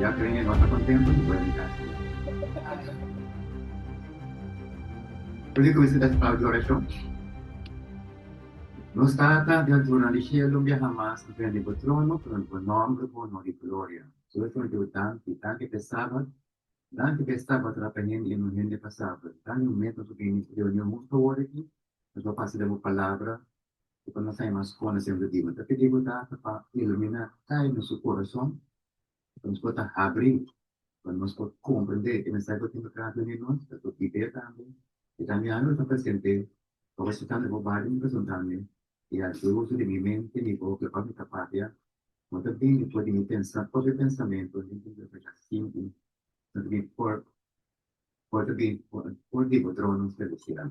Ya te oye nota contento cu puede di casa. Puede cu esta ta su tau di oracion. Nos Tata di altura di cielo mbi a hamas ta prende bo trono cu rond bo nomber cu honor y gloria. Su es rond di bo danki. Danki p'e Sabat. Danki p'e Sabat ora pa hende y no hende pa Sabat. Dani un mes nos a bini reunion hunto awor aki. Nos lo pasa den bo palabra. i pa nos sai mas hondo semper di bo ta pidi bo Tata pa ilumina kai nos su kurason pa nos por ta habri pa nos por komprende e mensai ku tin pa trata di nos ta por pipia tambe i tambe anu lo ta presente pa bo sentando bo bada mi presuntando i a haci uso di mi mente mi boca pa mi ta papia bo ta bini for di mi pensa propio pensamentu den tur lugá dja sinti santu mi por por ta bini for di bo trono selestial.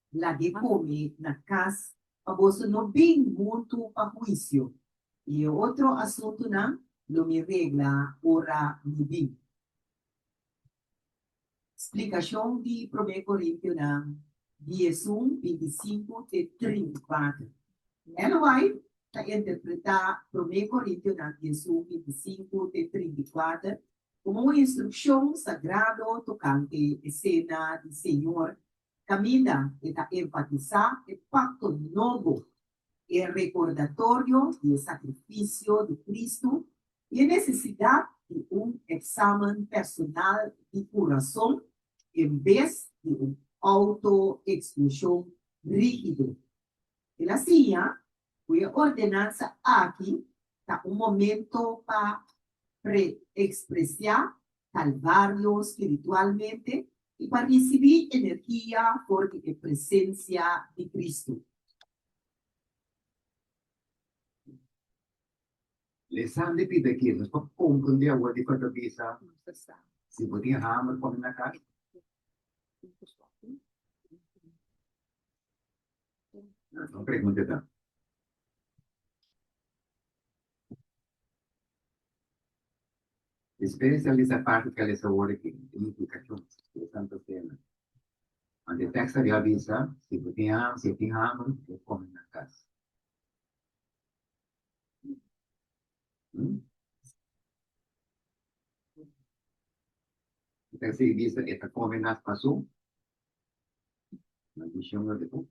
lag'é kome na kas pa boso no bin huntu pa huisio, i e otro asuntunan lo mi regla ora mi bin. Splikashon di Promé Korintiunan diesun binti sinku te trinta i kuater. Ellen White ta interpretá Promé Korintiunan diesun binti sinku te trinta i kuater komo un instrukshon sagrado tokante e Sena di Señor Kaminda e ta enfatisá e pakto nobo, e rekordatorio di e sakrifisio di Kristu i e nesesidat di un eksamen personal di kurason en bes di un outoeksklushon rígido. El a siña ku e ordenansa aki ta un momentu pa preekspresiá Kalbario spiritualmente i pa risibí energia for di e presensia di Kristu. Leson di Pita Kil nos por komprendé awor dikon ta bisa, Si bo tin hamer, pon e na kas. Nos ta pregunta ta. E spesial di Sapato ta lesa worde ku Unifikashon den Santa Sena. Ant e tekst a di avisa si bo tin hamber, si e tin hamber e kome na kas. E tekst a di bisa e ta kome na paso na dishembro de ku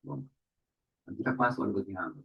bon anto ta pasa ora bo tin hamber.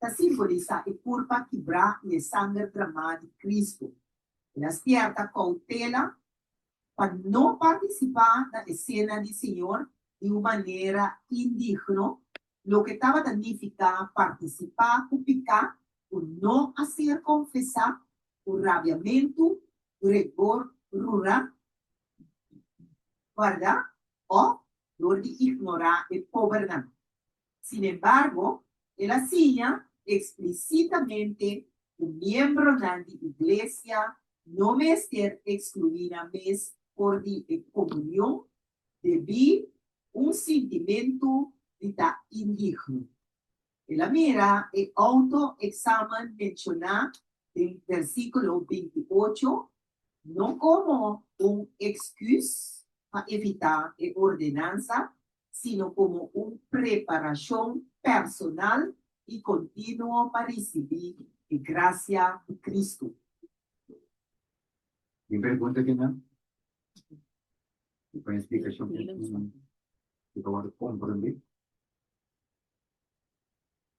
ta simbolisá e kurpa kibrá i e sanger drmá di Kristu. El a stierta koutela pa no partisipá na e sena di Señor di un manera indigno, loke tabata nifiká partisipá ku piká ku no a ser konfesá, ku rabiamentu, gregor rurá, bardá òf dor di ignorá e pobernan. Sin embargo, el a siña explicitamente cu miembronan di Iglesia no mester exclui nan mes for di e comunion debí un sintimentu di ta indigno. El a mira e auto-examen menciona den versiculo binti ocho no como un excus pa evitá e ordenansa sino komo un preparashon personal i kontinuo pa risibí e grasia di Kristu. Mi pergunta ta nan, Dipende splikashon ku tin, kico bo ta komprondé?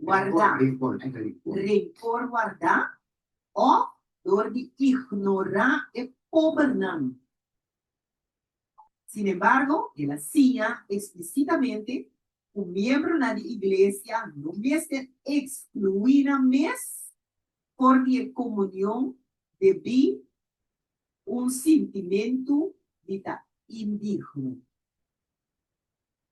wardá, renkor wardá, òf dor di ignorá e pobernan. Sin embargo, el a siña eksplisitamente ku miembronan di iglesia no mester ekskluí nan mes for di e komunion debí un sintimentu di ta indigno.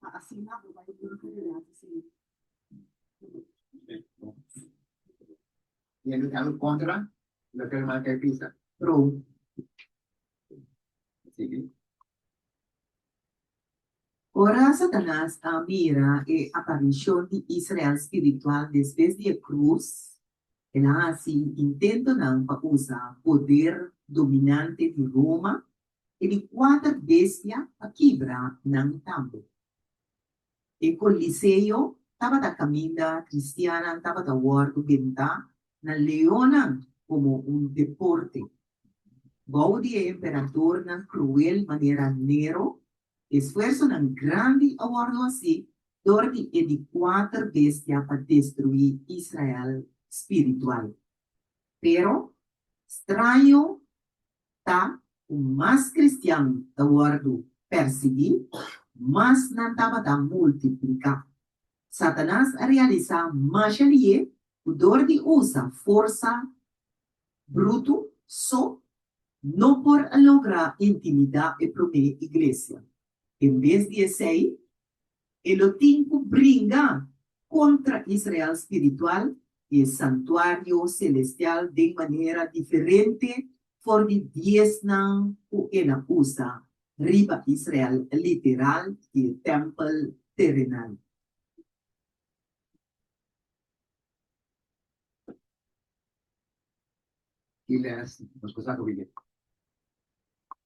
pa asina bo bai limpu di rato señor. Yendo di anu kontra lo ke herman kai pisa prou sibi. Ora Satanas a mira e aparishon di Israel spiritual despues di e krus, el a hasi intentonan pa usa poder dominante di Roma E di kuater bestia a kibra nan tambe. E Coliseo tabata kaminda, kristiannan tabata wòrdu bentá na leonnan komo un deporte. Bou di e emperadornan kruel manera Nero, esfuersonan grandi a wòrdu hasi dor di e di kuater bestia pa destruí Israel spiritual. Pero, straño ta ku mas kristian ta wòrdu pèrsiguí, mas nan tabata multipliká. Satanas a realisá masha lié ku dor di usa forsa brutu so, no por a logra intimidá e promé iglesia. En bes di esei, E lo tin ku bringa kontra Israel spiritual i e santuario selestial den manera diferente for di diesnan ku e na usa riba Israel literal i e tèmpel terenal. Ki les nos por sa ku bini?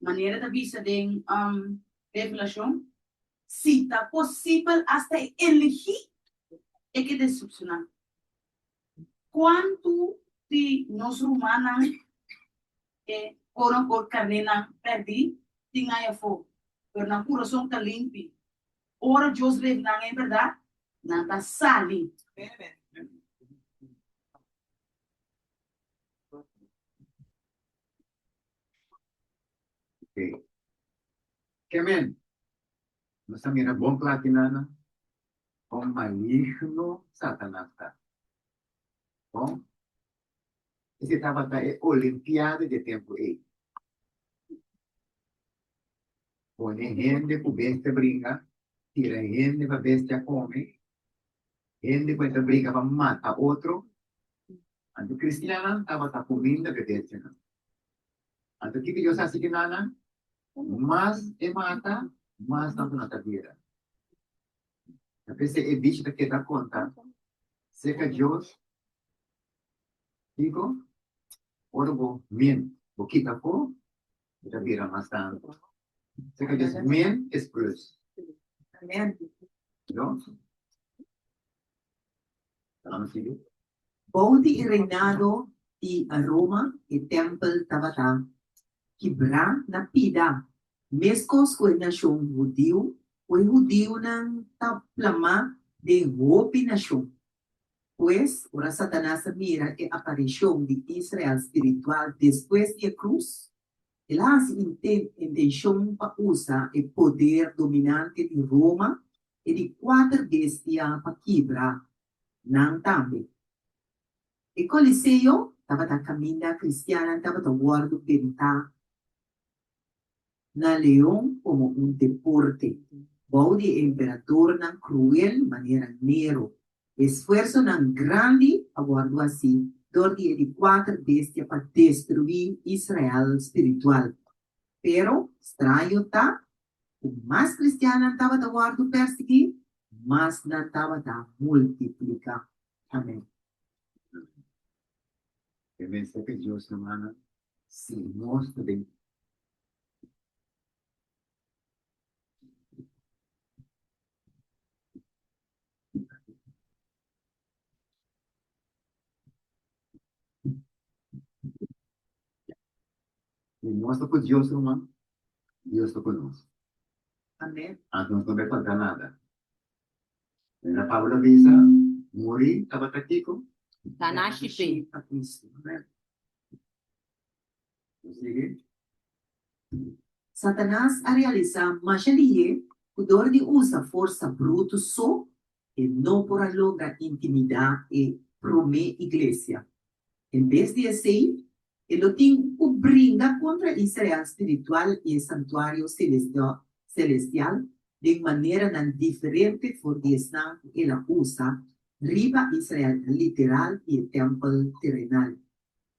Manera ta bisa den Revelashon, si ta posibel asta e eligí e ke desepshoná. Kuantu di nos rumannan e korongot karnénan pèrdí tin ai afó, pero nan kurason ta limpi. Ora Dios revela nan e bèrdat, nan ta sali. Ok. Ke men? Nos ta mira bon kla aki nana kon maligno Satanas ta. Bon, esei tabata e olimpiada di e tempu ei. Pone hende ku bestia bringa, tira hende pa bestia kome, Hende ku e ta briga pa mata otro. Anto kristiannan tabata kuminda bebechenan. Anto kiko Dios hasi ku nannan? Mas e mata, mas nan ku nan ta guera. Ta p'esei e bishi ta keda konta, Seka Dios kiko? Ora bo menti, bo kita afó, Esa bira mas tantu. Así cu es min es plus. No? Vamos a seguir. Bou di e reinado di Roma e tempel tabata kibrá na pida, mescos cu e nacion hudiu, cu e hudiunan ta plamá den hopi nacion. Pues, ora Satanas a mira e aparishon di Israel spiritual despues di e krus, el a hasi intenshon pa usa e poder dominante di Roma i di kuater bestia pa kibra nan tambe. E Koliseo tabata kaminda kristiannan tabata wòrdu bintá na Leon komo un deporte bou di e emperatornan kruel manera Nero. E sfuersonan grandi a wòrdu hasi dor di e di kuater bestia pa destruí Israel spiritual. Pero, straño ta ku mas kristiannan tabata wòrdu pèrsiguí, mas nan tabata multipliká. Amèn. Amen. Mester ka Dios na mana Si, nos ta bin. Si nos ta ku Dios ruman, Dios ta ku nos. Anto nos no bai falta nada. Mira Pablo a bisa, Muri tabata kiko? Ta na shipe. Satanas a realisá masha di hé ku dor di usa forsa brutu so, e no por a logra intimidá e promé iglesia. En bes di esei, e lo tin ku bringa kontra Israel spiritual i e santuario selestial den maneranan diferente for di esnan ku el a usa riba Israel literal i e tèmpel terenal.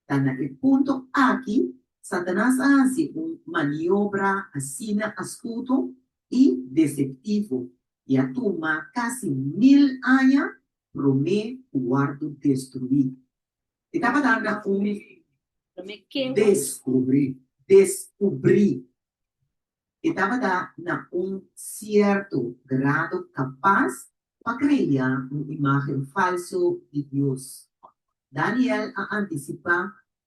Ta na e punto aki Satanas a hasi un maniobra asina astuto i deseptivo i a tuma kasi mil aña promé ku wòrdu destruí. E tabata na un. Promé ke? Deskubrí, deskubrí. E tabata na un sierto grado kapas pa krea un imágen falso di Dios. Daniel a antisipá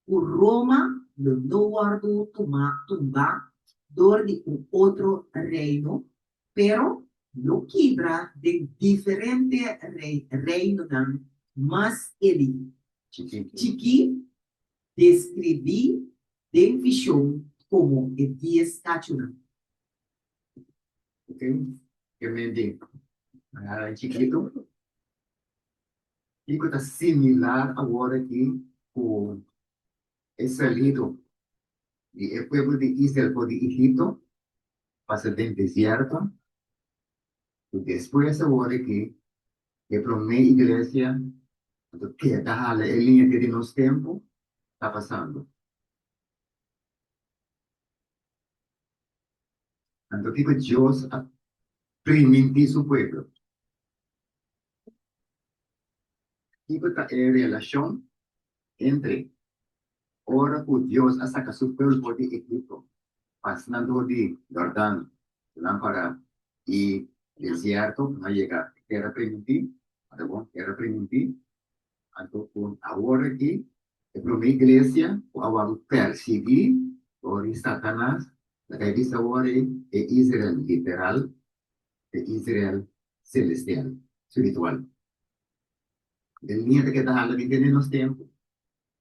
ku Roma lo no wòrdu tumá tumbá dor di un otro reino, pero lo kibra den diferente reinonan mas elí, chikí, deskribí Den vision komo e dies kachunan. Oke, e mente a chikitu. Kiko ta similar awor aki ku e salido di e pueblo di Israel for di Egipto, pasa den desierto, i despues awor aki E promé iglesia a ta keda hala e liña ke di nos tempu ta pasando. Anto kiko Dios a primintí su pueblo? Kiko ta e relashon Hendre, ora ku Dios a saka su pulpo di Egipto pasando di Yordan lampara i desierto no a yega tera priminti, ta bon tera priminti, anto ku awor aki e promé iglesia ku a wòrdu pèrsiguí dor di Satanas ta kai bisti awor ei e Israel literal ku e Israel selestial, spiritual. E miente ke ta hala di tene nos tempu,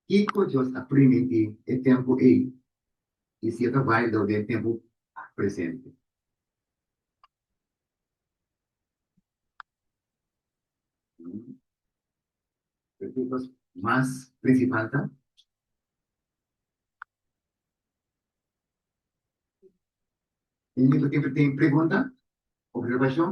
kiko Dios a primiti e tempu ei i si e ta valido den tempu presente? Preguntas mas prinsipal ta. Tin algún ku kere pregunta? Observashon?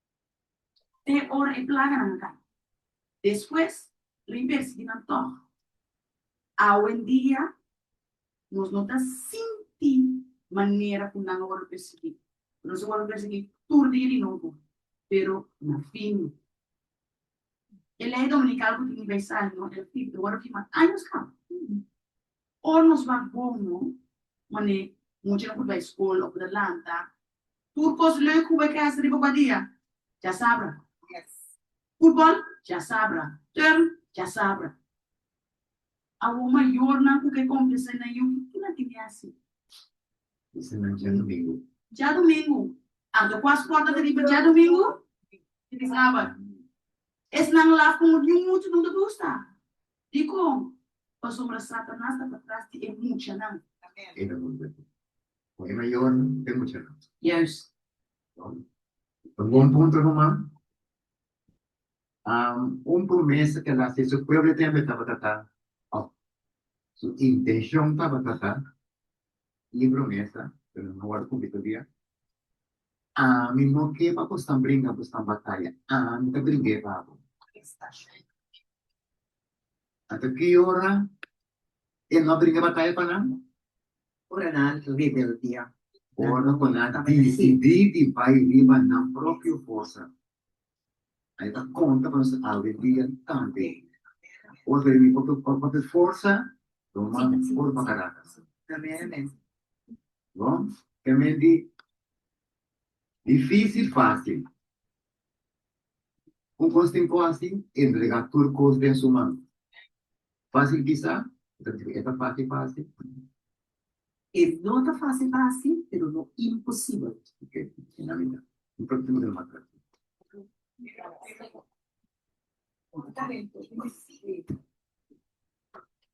te ora e plaganan a cai. Despues lo inversi nan tog. Awendia nos no ta sinti manera cu nan a wordo persegui, cu nos a wordo persegui tur dia di nobo, pero na fin. E ley dominical cu tin di bay sali no el tin ta wordo firma años caba. Ora nos wak bon no, mane muchanan por bay school o por ta lanta Tur cos leuk cu bo e krijs riba bo dia, dja sabra. Futbol, dja sabra. Turn, dja sabra. Awor mayornan cu ke complexa e nan yuki, kinan tin di haci? Dja domingo. Anto cu a sporta ta riba dja domingo? Tin di sabat. Esnan laf como niun mucha no ta gusta. Dicon? Pasobra Satanas ta patras di e muchanan. Con e mayor no te mucha nada. Yes. Bon. Un bon punto ruman. Um, un promesa que la se su pueblo tembe tabata ta, oh, su intención tabata ta, y promesa, pero no word cumplido todavía. A mi no que pa postan brinca, postan batalla. A mi te bringue babo. Esta shit. Ata que hora E no a bringa bataya pa nan. Ora nan a rebeldia. Ora ku nan a disidí di bai riba nan propio forsa. Nan e ta konta pa nos algún dia tambe. Ora ta bini pa propio forsa, lo mas puru pa karatas. Bon, ta men di difísil fásil. Cu cos tin cu haci? Entrega tur cos den su man. Facil kisa? E ta facil pa haci. E no ta facil pa haci, pero no imposibel. Ok, tin na mira. Un poquito mas atrás.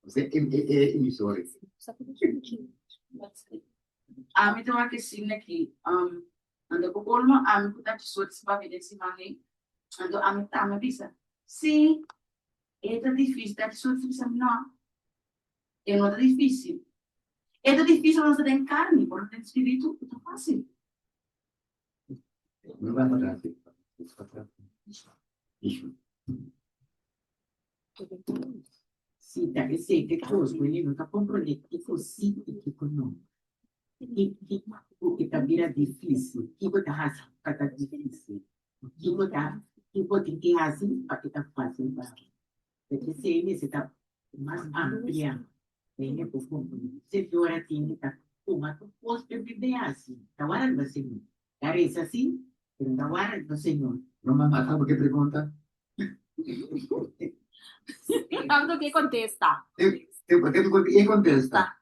Jose, e emisora. Ami ta wak e signo aki. Anto ku kolmo ami ku ta di sort si papia den si mahe, anto ami ta ami bisa, Sí, e ta difísil ta di sort si bisa mi nò. E no ta difísil. E ta difísil mas ta den karni, pero den spiritu e ta fásil. Si ta esei ke kos ku e no ta komprondé kiko si i kiko no. Ki kiko ku e ta bira difísil, kiko ta hasi ku ka ta difísil, i kiko ta kiko tin ke hasi pa e ta fásil pa bo. Por esei mester ta mas amplia den e bo komprondé. Señora tin di ta kuma ku kos ke mester hasi, ta wara riba señora. Ta reza si? Pero ta warrek no Señor. Lo mas mata bo ke pregunta. E tanto ke contesta. E tanto ke contesta.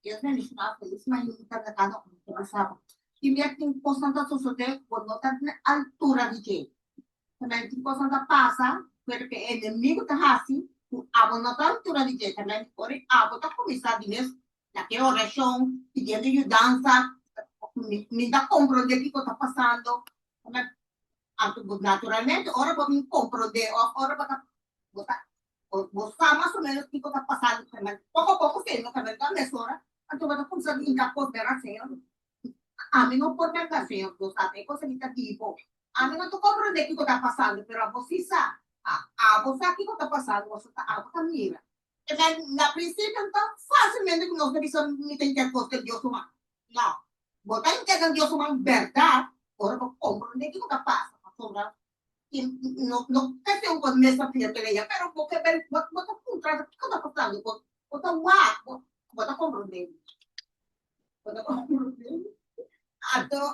Dios bendiciona a todos ma yo ta trata no un cosa bo. Timia tin cos nan ta sosode bo no ta den altura di dje. Tambe tin cos nan ta pasa pero ke enemigo ta haci cu abo no ta altura di dje. Tambe ora abo ta cuminsa di mes na ke orashon pidiendo yudansa mi ta kompronde kiko ta pasando naturalmente ora bo bin kompronde of ora bo ta bo ta bo sa mas o menos kiko ta pasando poko poko señor no ta bendo a mesora anto bo ta kumsa di hinka kos bera señor ami no por merka señor bo sa e kos aki ta di bo ami no ta kompronde kiko ta pasando pero abo si sa a abo sa kiko ta pasando bo sa ta abo ta mira Amen, na principio no ta facilmente cu nos ta bisa mi ta yntend cos den Dios su man. No, bo ta yntend den Dios su man berdad ora bo comprende kico ta pasa, pasobra y no no ta segur bo mes ta fiel todavia, pero bo ke vel bo bo ta puntra di kico ta pasando bo bo ta wak bo bo ta comprende mi, bo ta comprende mi, anto.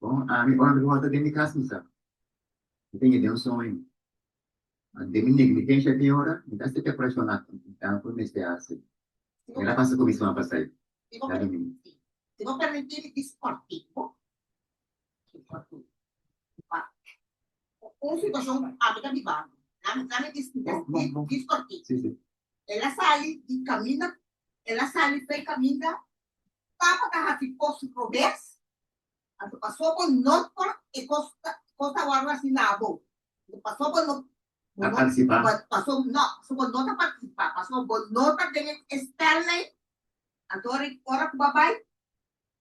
Bon, ami ora mi wòrdu den mi kas mi sa mi ta yega un soño. Ma den mi negligensha tin ora mi ta hasi preparashonnan ku mi mester hasi. Mi ta pasa kuminsman pa sai na dumingu. Papa ta hasi kos robes? Anto paso bo no por e kos kos ta wòrdu hasi na bo? Anto paso bo no ta partisipá? Paso no paso bo no ta partisipá, paso bo no ta den e spèlmei, anto ora ora ku bo a bai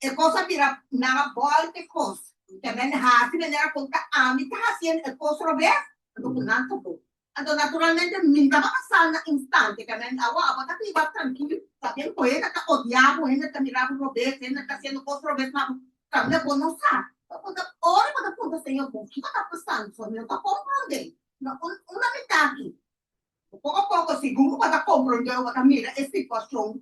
e kos a bira nan a bòl e kos. Bo ta ben hasi manera kon ta ami ta hasiendo e kos robes, anto ku nan ta bo. Anto naturalmente mi ta bata sa na instante ka nan awa abo ta biba trankil pabian ku hende ta odia bo hende ta mira bo robes hende ta hasiendo kos robes pa bo tambe bo no sa bo por ta ora bo ta punta señor bon kiko ta pasando so mi no ta komprondé na un un lamitad aki bo poko poko si bo ta komprondé o bo ta mira e situashon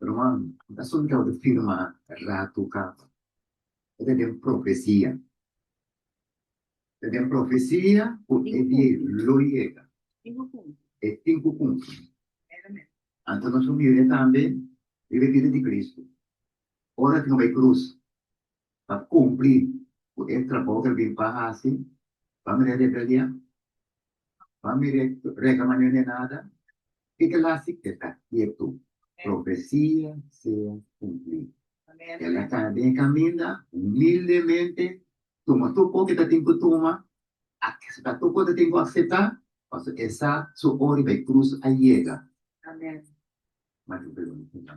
Ruman, N ta solidao di firma ratu kaba. E ta den profesia. Ta den profesia ku e dia lo yega. E tin ku kumpli. Anto nos famia tambe riba e bida di Kristu. Ora ku no bai krus, pa kumpli ku e trabou ku el bin pa hasi? Ba mira e rebeliá? Ba mira e rega mañó di e nada? Tika el hasi e ta ketu? Profesia sea kumplí. El a kana den e kaminda, humildemente tuma tur kon ke ta tin ku tuma, akseptá tur kon ke ta tin ku akseptá, pasobra e sa su ora di bai krus a yega. Ma tin un pregunta.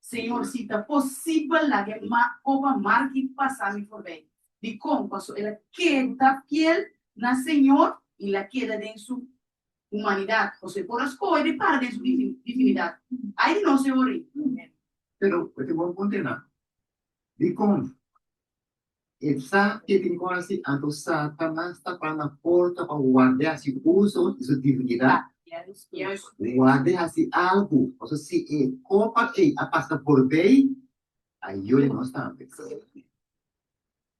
Señor, si ta posibel laga e coba marki pasa mi forbij. Dicon? Pasobra el a keda fiel na Señor y el a keda den su humanidad, pasobra e por a scoge di para den su divinidad. Ai di nos e ora ei! Pero, cu tin bo a puntená? Dicon? E sa ke tin ku hasi anto Satanas ta pa na porta pa warda e hasi uso di su divinidat, warda e hasi algu, pasobra si e kopa ei a pasa forbei, a yore nos tambe.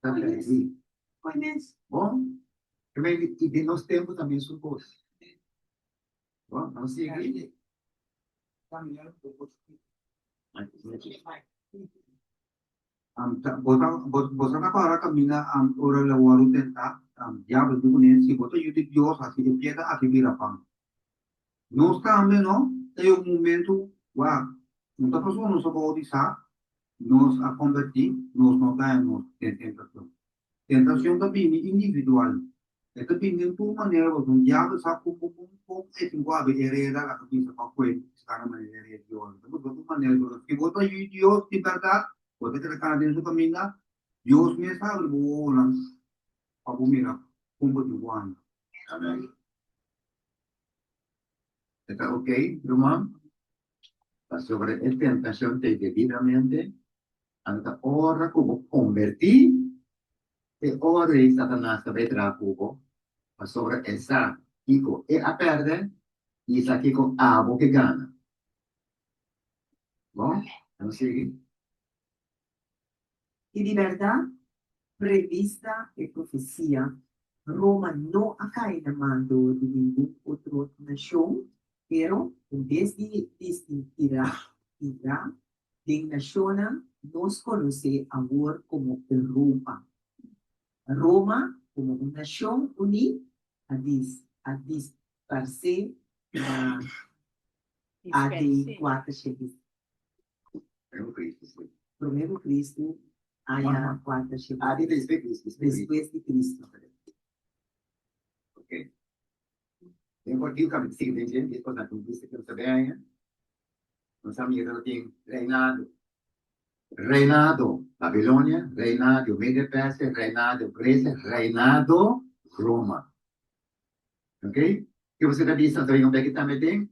Ta pèrdí. Bo mira di i den nos tempu ta mesun kos. Bo nos sigui. Boso a para kaminda ora lo wòrdu tentá? Diablo di pone, Si bo ta Yu di Dios, hasi e piedra aki bira pan. Nos tambe no ta yon momentu wak un ta pasobra nos a boutisá, nos a kombertí, nos no ta den nos tentacion. Tentacion ta bini individual. E ta bini den tur manera pasobra un diablo sa cu cu cu un poco e tin cu habri hereda la ta bisa pa cu e sta na manera di rey Dios. Ta busca un manera di boso. Si bo ta yu Dios di berdad, bo ta kere cana den su caminda, Dios mes ta habri bo ohonan pa bo mira con bo tin cu anda. Amen. E ta ok, ruman, pasobra e tentashon ta e debidamente, anto ta ora ku bo kombertí, e ora ei Satanas ta bai traha ku bo, pasobra e sa kiko e a pèrdè i e sa kiko abo ke gana. Bon, a sigui. I di berdad, prevista e profecia, Roma no a cay na mando di ningun otro nacion, pero en bes di distinguira ira den nacionnan nos conoce awor como Europa, Roma como un nacion uní a dis a disparse na a de cuater shegis. Primero Cristo aya cuarta shibit. Antes di Cristo. Despues di Cristo. Okay. Den por diu cami si den dje dies pasado con Cristo quiero saber aya. Nos a mira lo tin reinado. Reinado Babilonia, reinado Media Persia, reinado Grecia, reinado Roma. Okay. Quiero saber di Santo Reino beki tambe tin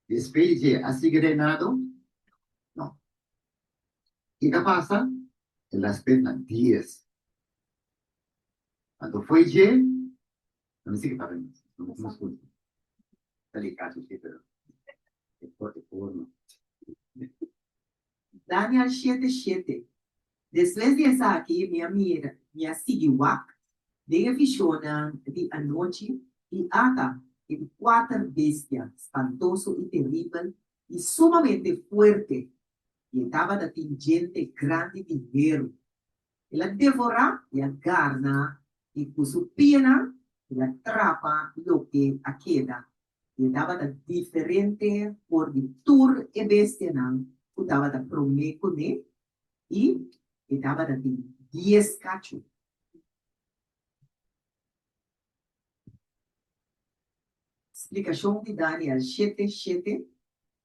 Despe dje a sigui reinado? No. Kiko a pasa? El a spet na dies. Anto fo'i dje, nan a sigui para nos. Nan bo komo scunsha. Ta likacu si, pero e forma. Daniel shete shete, Despues di esaki mi a mira, mi a sigui wak den e vishonnan di anochi, i ata e di kuater bestia spantoso i teribel i sumamente fuerte, i e tabata tin djente grandi di heru. El a devorá i a garna, i ku su pianan el a trapa loke a keda i e tabata diferente for di tur e bestianan ku tabata promé kuné, i e tabata tin dies kachu. Splikashon di Daniel shete shete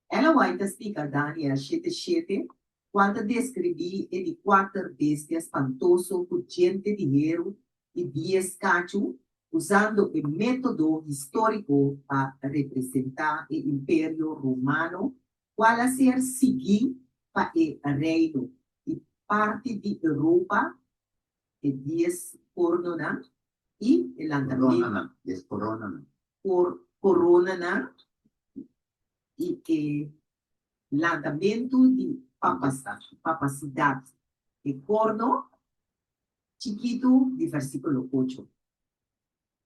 Ella White ta stica Daniel shete shete cual ta describi e di cuater bestia spantoso cu djente di heru y dies cachu usando e metodo historico pa representa e imperio romano cual a ser sigui pa e reino y parti di Europa E dies kornonan i e lantamentu. Koronanan. Koronanan i e lantamentu di papasidat. E korno chikitu di vèrsikulo ocho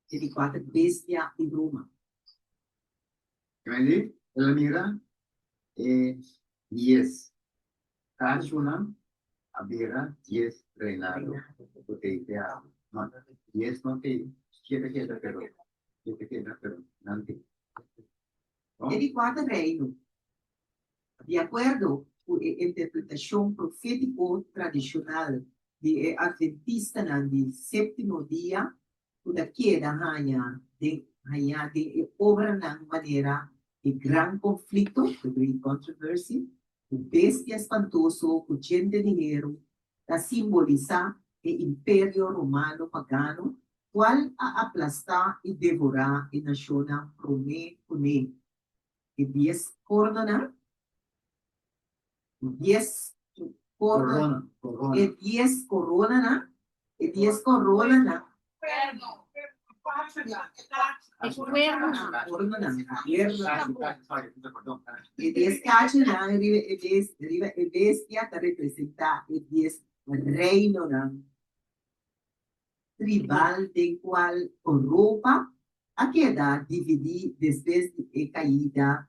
e di kuater bestia di Roma. Kende el a mira e dies Casonan a bira dies reinado cu t'ey te habri, ma dies no t'ey keda keda pero keda keda pero nan t'ey. E di cuater reino, di acuerdo cu e interpretacion profetico tradicional di e adventistanan di septimo dia, ku ta keda haña den hañá den e obranan manera di gran konflikto, the great controversy, ku bestia espantoso ku djen den dineru, ta simbolisá e imperio romano pagano kual a aplastá i devorá e nashonnan promé kuné e dies kórnonan. dies coronanan, e dies coronanan, e dies cachanan riba e bes, riba e bestia ta representa e dies reinonan tribal den cual Europa a keda dividi despues di e caida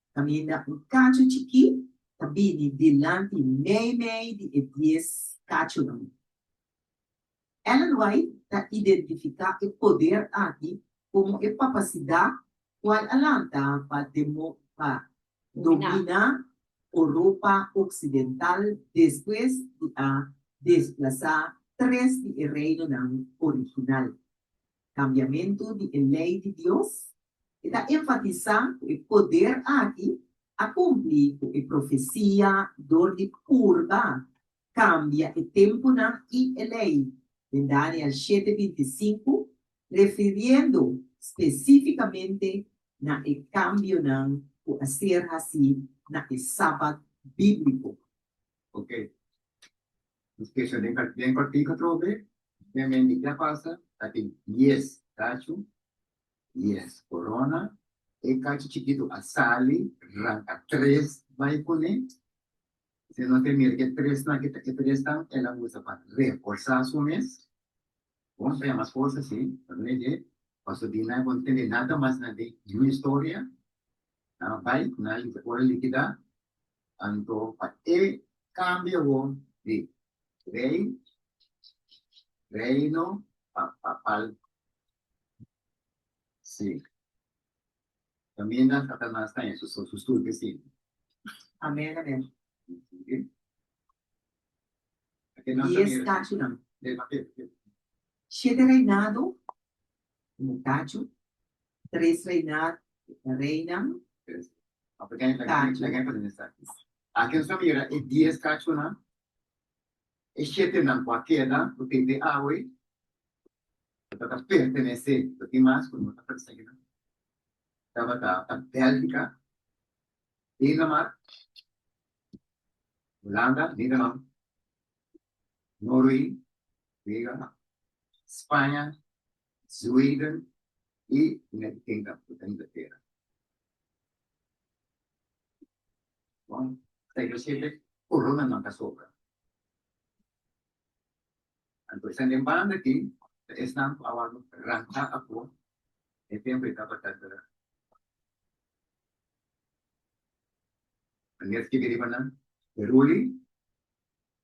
Kaminda un kachu chikí ta bini dilanti mei mei di e dies kachunan. Ellen White ta identifiká e poder aki komo e papasidat kual a lanta pa pa dominá Oropa oksidental despues di a desplasá tres di e reinonan original. Kambiamentu di e lei di Dios, e ta enfatisá ku e poder aki a kumpli ku e profesia dor di purba, kambia e tempunan i e lei, den Daniel shete binti i sinku, refiriendo spesífikamente na e kambionan ku a ser hasí na e Sabat bíbliko. Ok. Nos kesa den den partido atrobe, den menti ke a pasa, ta tin dies kachu, dies korona, e kachu chikitu a sali, ranka tres bai kuné, si nos a mira ke tresnan ke ta e tresnan el a usa pa reforsa su mes, bon ta ya mas forsa si, ta mira ke Pasobina bon tene nada mas na di historia, nan a bai, nan a ora likida, Anto pa e kambia bo di rei, reino, pa papal. Si. Kaminda Satanas ta heshe su stupi sin. Amen amen. Oke. Dies kachunan. Dema ke. Shete reinado. como cacho, tres reina, reinan, cacho. Aki nos ta mira e dies cachonan, e shetenan cu a keda cu tin di awe cu ta ta pertenece, lo tin mas cu no ta pertenece nan, tabata ta Belgica, Denemark, Holanda, Nederland, Norway, Nederland, Spaña, Zweden i United Kingdom, ku ta Inglatera. Bon, Taylor Swift e korona nan ta sobra. Anto esnan den banda aki ta esnan ku a wòrdu ranta apo e tempu e tabata ta Aneer skirbi riba nan, Heruli.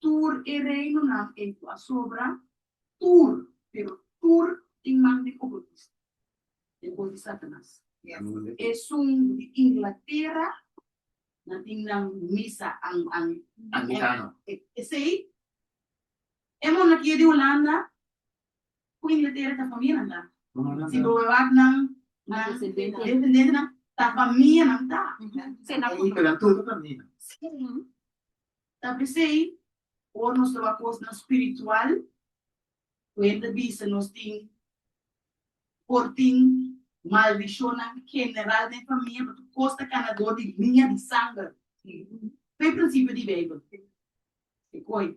tur e reinonan ei ku a sobra, tur, pero tur tin man di oportunista, e bon di Satanas. Esun di Inglatera na tin nan misa anglikano. Esei e monnan ki e di Hulanda ku Inglatera ta famia nan ta. Si bo wak nan desendentenan ta famia nan ta. Esei nan tur ta famia. Ta p'esei, ora nos taba'a kosnan spiritual, ku hende bisa nos tin por tin maldishonnan general den famia, pasobra kos ta kana dor di liña di sanger. Ku e prinsipio di Beibel, e koe.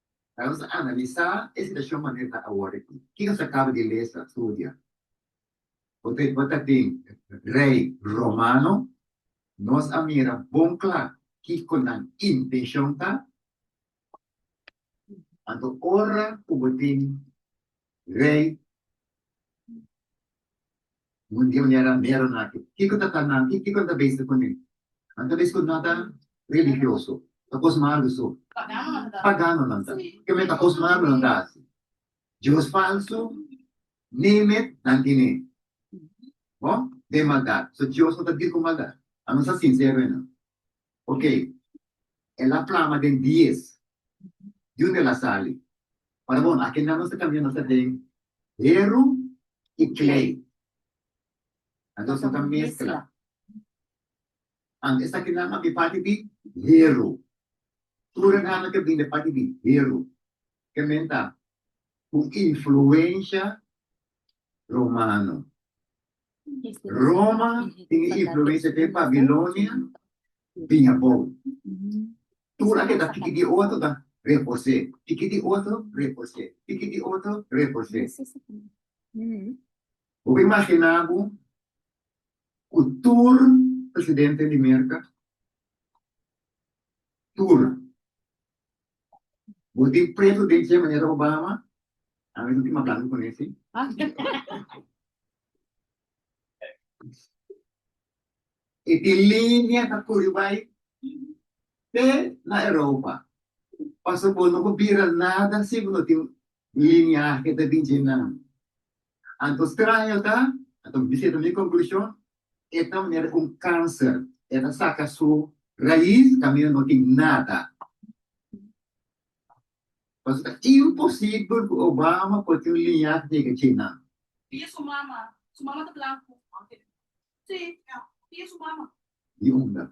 Ta nos a analisá e situashon manera ta awor akí. Ke nos a kaba di lesa, studia? Bo ta bo ta tin rei romano, nos a mira bon kla kiko nan intenshon ta. Anto ora ku bo tin Rey, un di un herandero na aki, kiko ta ta nan? Ki kiko nan ta besta ku mi? Nan ta bisti ku nan ta religioso, ta kos malu so. Pagano nan ta, keme ta kos malu nan ta hasi. Dios falsu, Nimet, nan tine bo den maldat. So Dios no ta dir ku maldat. Anos a sinsero e nan. Ok, el a plama den dies. Djunde el a sali? Para bon, aki nan nos ta kambia nos ta den heru i klei. Anto nos no ta meskla. Anto esaki nan a bin parti di heru. Tur e nannan ke bin den parti di heru, ke men ta ku influensha romano. Roma tin e influensia den Babilonia bin abou. Tur anto ta tiki di otro ta repos'é, tiki di otro repos'é, tiki di otro repos'é. Bo por imaginá bo ku tur presidente di Merka, tur Bo tin pretu den dje manera Obama? A mi no tin mablando con ese. E tin linea ta curi bay te na Europa. Pasobra bo no por bira nada si bo no tin lineahe ta den dje nan. Anto straño ta, anto mi siento mi conclusion, e ta manera di un cancer, e ta saca su raiz camino no tin nada. Pasobra ta imposible cu Obama por tin un liñahe negra dje nan. Pia su mama, su mama ta blanco. Si, pia su mama. Di unda?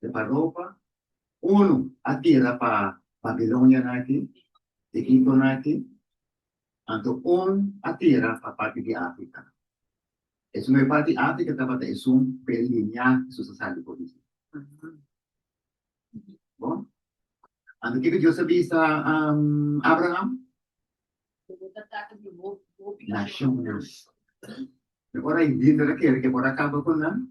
te pa ropa, unu a tira pa Babilonianan aki, Egiptonan aki, anto un a tira pa parti di Africa. Esun e parti Africa tabata esun p'e liña Hesus a sali for di si. Bon, anto kico Dios a bisa Abraham? Nacionnan. Ora e Biblia ta kere ke por a kaba ku nan,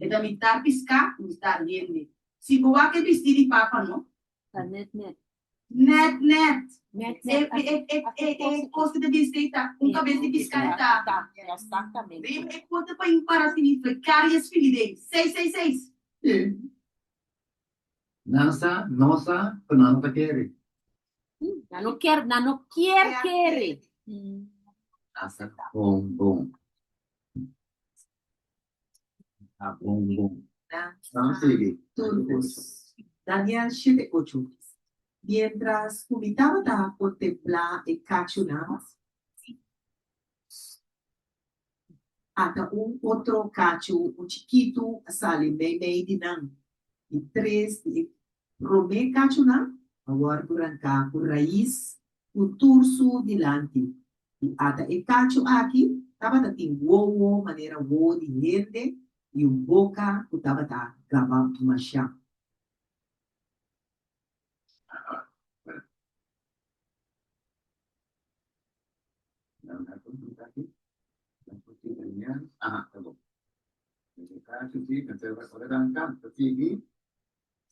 E ta mitá piská, mitá hende. Si bo wak e bistí di Papa no. Ta nèt nèt. Nèt nèt. Nèt nèt. E e e e e kos ku ta bin stay ta un kabes di piská e ta. Exactamente. Bai e konta pa in para fini Precarious fini dei. Seis seis seis. E nan sa no sa ku nan no ta kere. Nan no ker nan no kier kere. Nan sa bon bon. a bon bon. Nan sigi. Turbus. Daniel shete ocho mes. Mientras cu mi tabata por templa e cachunan, si ata un otro cachu, un chikitu, a sali meimei di nan. I tres di e prome cachunan a worde ranca cu rais cu tursu dilanti. I ata e cacho aki tabata tin wowo manera wowo di hende i un boca cu tabata gaba masha.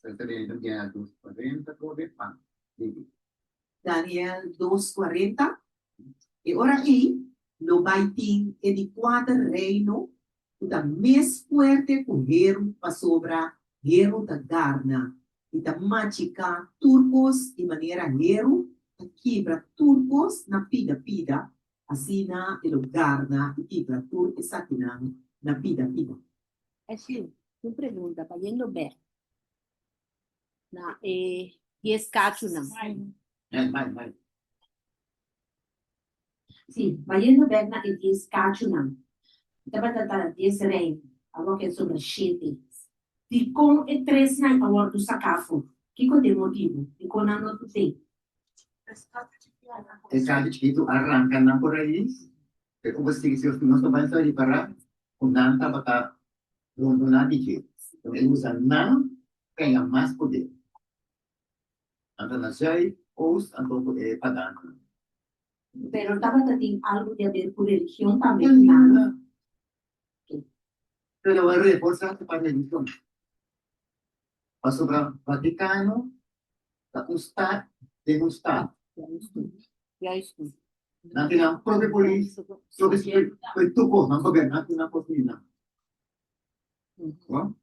Sertamente dia a dos cuarenta por de pan bibi. Daniel dos cuarenta E ora ei lo bai tin e di cuater reino cu ta mes fuerte cu heru pasobra heru ta garna i ta machica tur cos i manera heru ta kibra tur cos na pida pida asina e lo garna i kibra tur esakinan na pida pida. E fin, tin pregunta pa yendo bek na e dies cachunan. Si, bayendo bek na e dies cachunan, bo tabata ta dies reino, awor ke sobra shete. Dikon e tresnan a wordo saca afo? Kico ta e motibo? Dikon nan no tin fe? E cacho chiquito a ranca nan cu raiz. Ke ku bo sigue si nos no bai sa ripará ku nan tabata bondoná di dje? Bo a usa nan kaña mas podé, anto na zùi òf anto ku e pagannan. Pero tabata tin algu di aber ku religion tambe ku nan. Ke ke lo a reforsá su pa religion. Pasobra Vaticano ta un stat den un stat. Nan tin nan propio polis, propio security, pero tur cos, nan gobierno, nan tin nan cos ni nan. Bon?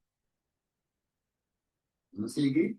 Nan sigui.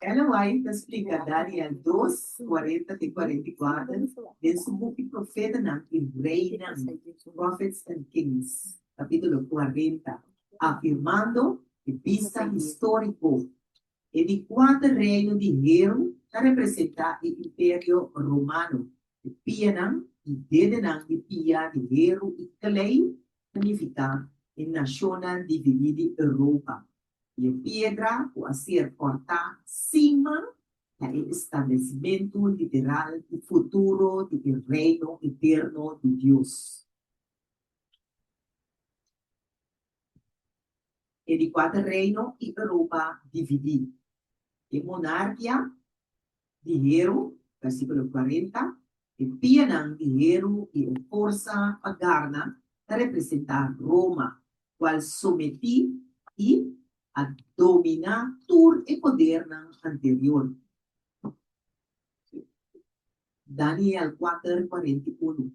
Ellen White ta splika Daniel dos, kuarenta te kuarenta i kuater den su buki Profetanan i Reinan, Prophets and Kings, kapítulo kuarenta, afirmando e bista históriko. E di kuater reino di hel ta representá e imperio romano. E pianan i dedenan di pia di heru i klei ta nifiká e nashonnan dividí di Europa. i e piedra ku a ser kòrtá sima na e establesimentu literal i futuro di e Reino eterno di Dios. E di kuater reino i Europa dividí. E monarkia di heru, versikulo kuarenta, E pianan di heru i e forsa pa garna ta representá Roma, kual sometí i a dominá tur e podernan anterior. Daniel kuater kuarenta i unu,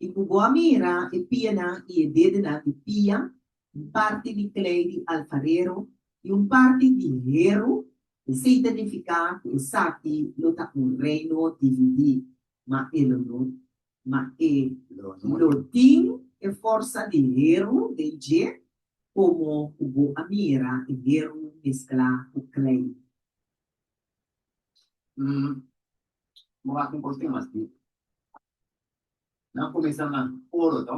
I ku bo a mira e pianan i e dedenan di pia un parti di klei di alfarero i un parti di heru, esei ta nifiká ku esaki lo ta un reino dividí, ma e lo no, ma e lo tin e forsa di heru den dje, komo ku bo a mira e heru mesklá ku klei. Bo hasi un kos ki mas difísil. Nan kuminsá na oro, to?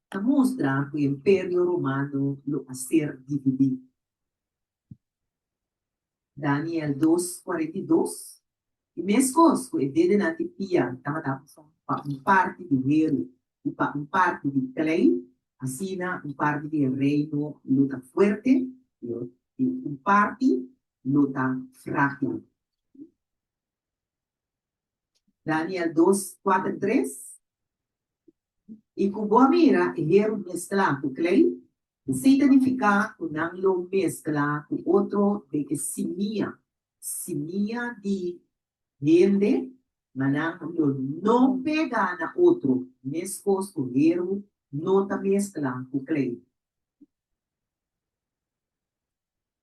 ta mustra ku Imperio Romano lo a ser dividí. Daniel dos kuarenta i dos E meskos ku e dedenan di pia tabata pa un parti di heru i pa un parti di klei, asina un parti di e reino lo ta fuerte i un parti lo ta frágil. Daniel dos, kuater, tres I ku bo a mira e heru mesklá ku klei, si ta nifiká ku nan lo mesklá ku otro den e simia, simia di hende, ma nan lo no pega na otro, meskos ku heru no ta mesklá ku klei.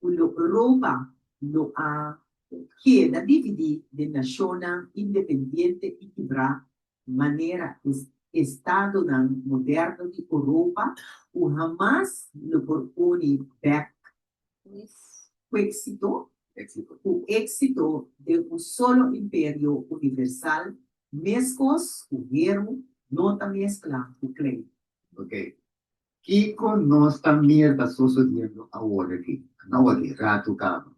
ku lo Europa lo a keda dividí den nashonnan independiente i kibrá, manera e estadonan moderno di Europa ku hamas lo por uni bèk ku éksito den un solo imperio universal, meskos ku Heru no ta mesklá ku klei. Kiko nos ta mira ta sosodiendo awor aki? Anao aki, ratu kaba.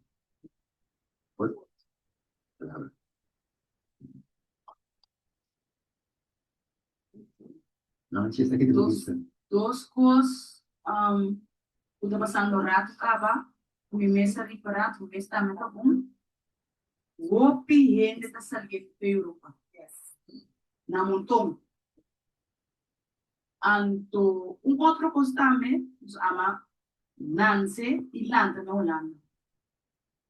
Dos kos ku ta pasando ratu kaba ku mi mes a ripará, ku mi mes tambe ta bon, hopi hende ta saliendo pa Europa, na monton. Anto un otro cos tambe, nos ama nance y lanta na Holanda.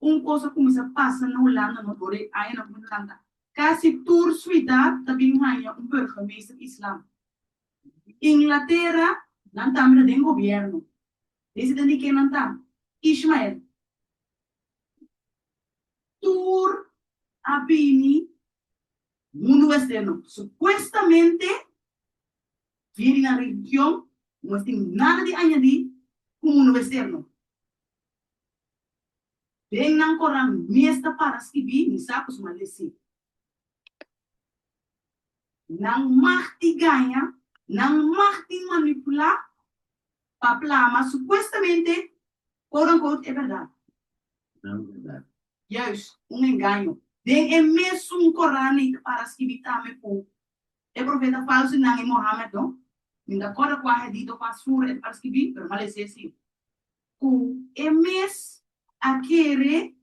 Un cos a cuminsa pasa na Holanda no door e añanan cu nos lanta, casi tur suidad ta bin hanja un burgemeester islam. Inglatera, nan tambe ta den gobierno, mester tende ken nan ta, Ishmael. Tur a bini. Mundu westerno supuestamente vivi na religion, no es tin nada di añadi ku mundu westerno. Den nan koran mes ta para skibi, mi sa ku su maldé si. Nan mag tin gaña, nan mag tin manipulá pa plama supuestamente Quote-unquote e berdad. Nan berdad. Juis, un engaño. Den e mesun Coran e ta para skibi tambe cu e profeta falso nan e Mohammed no. Min ta corda cu a hedito cu a sur e ta para skibi, pero mal esey si, cu e mes a kere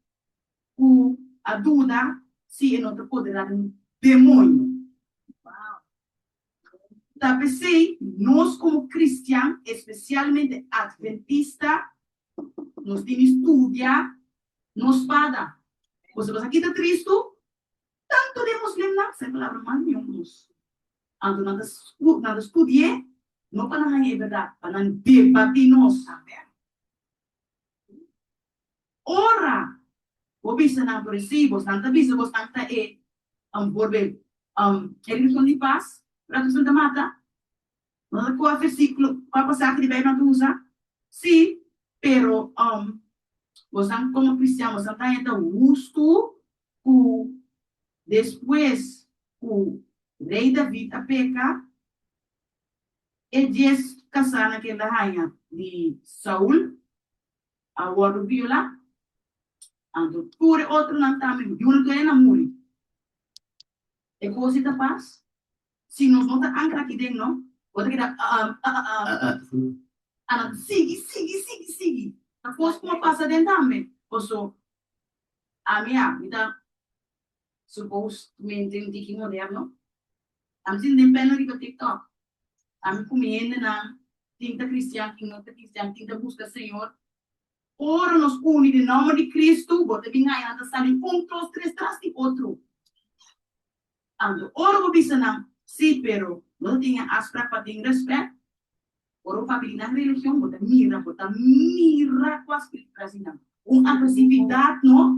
cu a duda si e no ta poderá den un demoño. Wow! Ta p'esei, nos komo kristian, espesialmente adventista, nos tin di studia nos spada. Ku esaki ta kita tristu? Tantu den muslimnan, sa e palabra mas miun nos. Anto nan ta nan ta studi'é, no pa nan haña e berdat, pa nan debatí nos. Ora bo bisa nan por e si, bosnan ta bisa bosnan ta e, um, por be, um, e religion di pas, ora bosnan ta mata? Nos a coge versiculo, pa, pasaje di Bijbel nan ta usa? Si, pero, um, bosnan como cristian bosnan ta henter hustu cu despues cu Rey David a peca, e dies casanan cu el a haya di Saul a wòrdu biolá, anto tur e otronan tambe, yuna tur ayina muri. E kosi ta pas, si nos no ta ankra aki den no, bo ta keda a'am, a'am, a'am, a nan sigui, sigui, sigui, sigui, ta kos ku a pasa den tambe. Por eso, ami a, mi ta. Suppose cu mi tin un tiki moderno. A mi tin den bella riba tiktok. A mi cu mi hendenan, tin ta cristian, tin no ta cristian, tin ta busca Señor. Ora nos uni den nomber di Cristo, bo ta bin haña nan ta sali un tros tres tras di otro. Anto, ora bo bisa nan, si, pero no ta tin e afspraak pa tin respect, ora bo papia di nan religion, bo ta mira, bo ta mira cu a spirit trasi nan. Un agresividad no.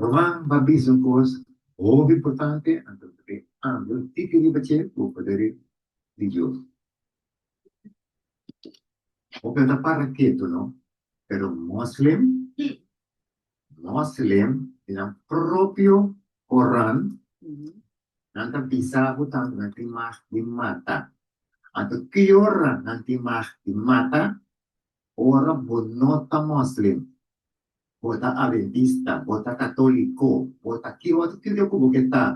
Roman ba bisa un kos hopi importante, anto ta bin andu tiki riba dje ku poder di Dios. Hopi no ta para ketu no, pero Moslem, Moslem di nan propio Koran, nan ta bisa bo tambe nan tin mag di mata. Anto ki ora nan tin mag di mata? Ora bo no ta Moslem. bo ta Adventista, bo ta Katoliko, bo ta ki otro titio ku bo ke ta,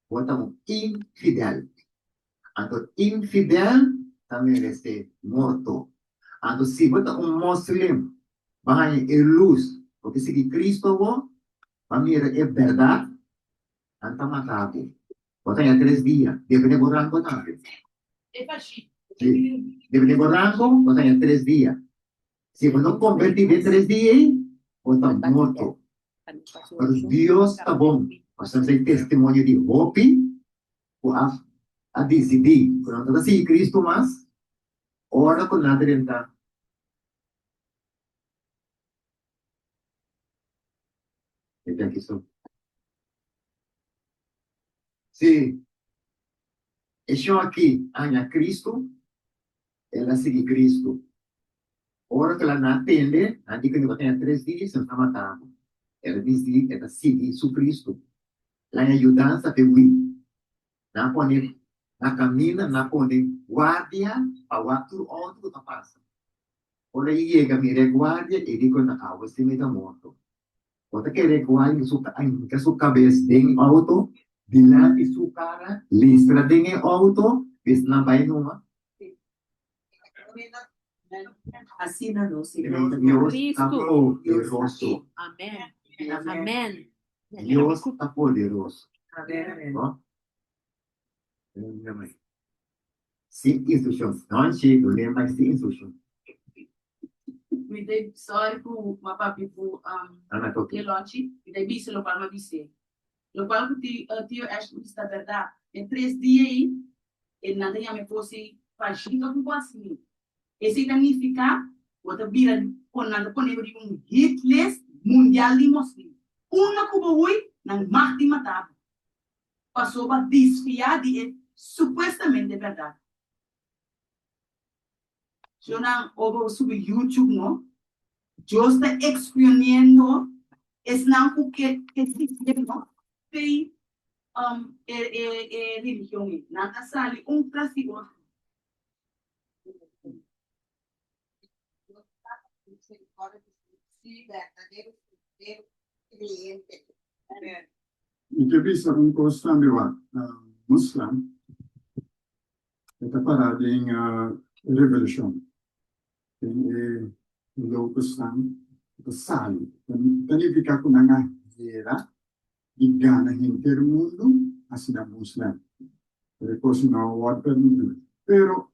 bo ta un infidèl. Anto infidèl ta merese morto. Anto si bo ta un moslim, bo a haña e lus, bo ke sigui Kristu awor, bo a mira e bèrdat, nan ta mata bo. Bo ta haña tres dia, depende bo rango tambe. Si, depende bo rango, bo ta haña tres dia. Si bo no konvertí den tres di ei, bo ta morto. Pasobra Dios ta bon, nos ta hasi testimonio di hopi ku a disidí ku nan no ta sigui Kristu mas ora ku nan ta den ta. Si e shon akí a haña Kristu, el a sigui Kristu. Ora ku laná tende anti ku e nibo tenga tres di, se na mata bo. El a disidi e ta sigui su Kristu. Laña yudansa p'e wi. Nan a pone na kaminda, nan a pone guardia pa wak tur outo ku ta pasa. Ora e yega mir'e guardia, e di ku nan, Awe sí mi ta morto. Bo ta kere ku a hinka su kabes den e outo, dilanti su kara, listra den e outo, bes nan bai numa? Si. Asina no, Señor. Dios ta poderoso. Dios ta poderoso. Nunca mai. Sin instruccion. Nochi lo lea mai sin instruccion. Mi ta sorry cu ma papi cu e lonchi. Mi ta bisa lo cual ma bis'e. Lo cual cu Tio Ashley bisa ta berdad. E tres dia ei e nan ta yama e cos ei pa junta cu boso mi. Esey ta nifica bo ta bira con nan ta ponebo riba un hit list mundial di Muslim. Una cu bo hui nan mag di mata bo. pasobra disfiá di e supuestamente bèrdat. Yo nan ora bo subi YouTube no, Dios ta exponiendo esnan ku ke e sigue no fe e e e religion ei. Nan ta sali un tras di otro. Mi ta bisa un cos tambe wak, Muslam e ta para den revolucion, den e locusnan e ta sali, ta nifica cu nan a hera y gana henter mundo, asina Muslam, pero e cos no a word permiti, pero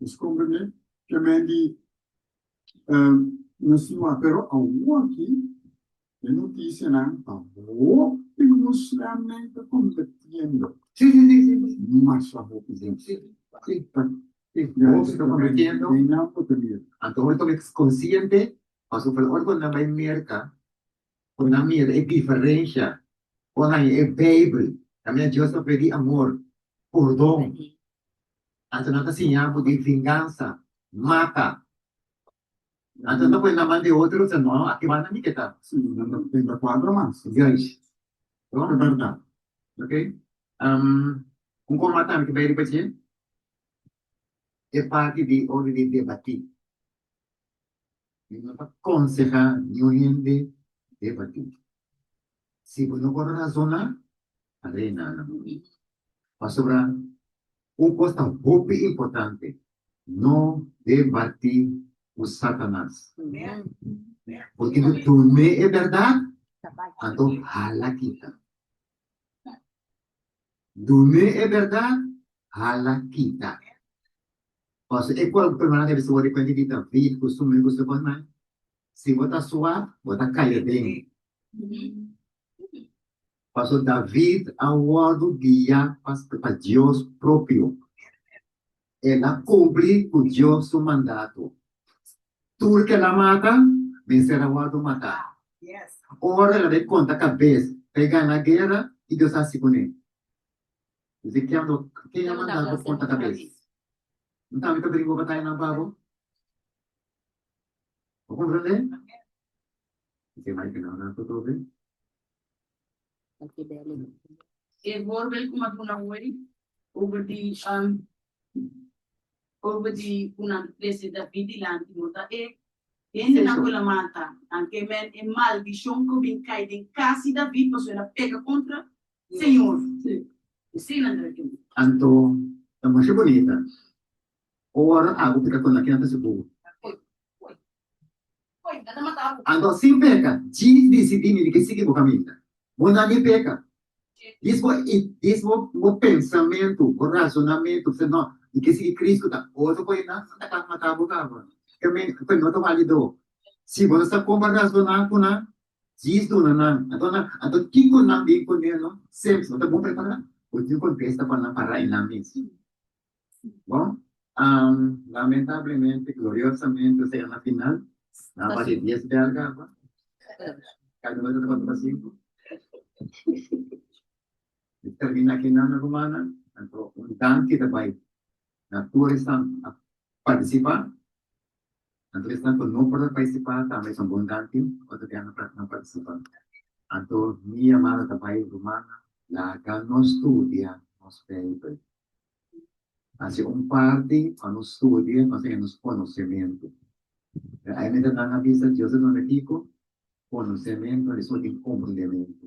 Nos comprende ke men di nos siñor, pero awor aki e notisianan ta hopi muslimnan konvertiendo. Mas ta hopi hende. Anto ora toka konshiente, pasobra ora ku nan bai Merka Ku nan mira e diferensha ora nan lee e Beibel ta mira Dios ta pedí amor, purdon. Anto nan ta siña bo di vingansa, mata. Anto nan ta pone na man di otro, ta no, aki banda mi ke ta. Sí, nan ta tenta kuadro mas juis. Lo e bèrdat. Oke. Un kos mas tambe ku bai riba dje e parti di ora di debatí. Mi no ta konsehá niun hende debatí. Si bo no por razoná, ta rena na bo mente. Pasobra un kos ta hopi importante, no debatí ku Satanas. Bo tin ku tum'é e bèrdat, anto hala kita. Tum'é e bèrdat, hala kita. Pasobra e cual persona ta bisa bo di cuenta di David cu su amigo su bon nan? Si bo ta suaf, bo ta caya den. Pasobra David a wordo guia pa Dios propio. El a cumpli cu Dios su mandato. Tur cu el a mata, mester a wordo mata. Ora el a bay conta cabes, ta bay gana guera, ki Dios a haci cu ne? Ezekiel do, Ken a manda bo for ta kabes? N tambe ta bringua batayanan pa bo. Bo komprondé? N tin mai pena ora ku tobe. E horbel ku m'a duna ho'i over di over di ku nan trese David dilanti bo ta e hendenan ku el a mata, nan ke men e maldishon ku a bin kai den kas di David pasobra el a peka kontra Señor, mi sin nan ta yu. Anto ta masha bonita. Ora agu pika con lakinan ta seguro. Anto sin peca Jesus dicidi mi di sigui bo caminda. Bo na ni peca. Dis bo i dis bo bo pensamentu, bo razonamentu fla no mi ke sigui Cristo ta otro coe na nan ta mata bo caba. Caminda coe no ta walido. Si bo no sa como razona cu nan Djis duna nan. Anto nan, anto kiko nan bin ku neno? Seps, bo ta bon prepará? Bo tin kontesta pa nan pa rai nan misi? Bon, am, lamentablemente, gloriosamente nos ta yega na final. Nan a bati dies belga awa. Kada uno ta tabata pa sinku. Mi termina aki nan, rumannan. Anto un danki ta bai na tur esnan a partisipá. Anto esnan ku no por ta partisipá tambe son bon tanti otro bia no no partisipá. Anto mi yamada ta bai rumannan laga nos studia nos Beibel. Hasi un parti pa nos studia nos haya nos konosementu. Pero ai mester nan a bisa Dios ta duna diko konosementu, esun tin komprendementu.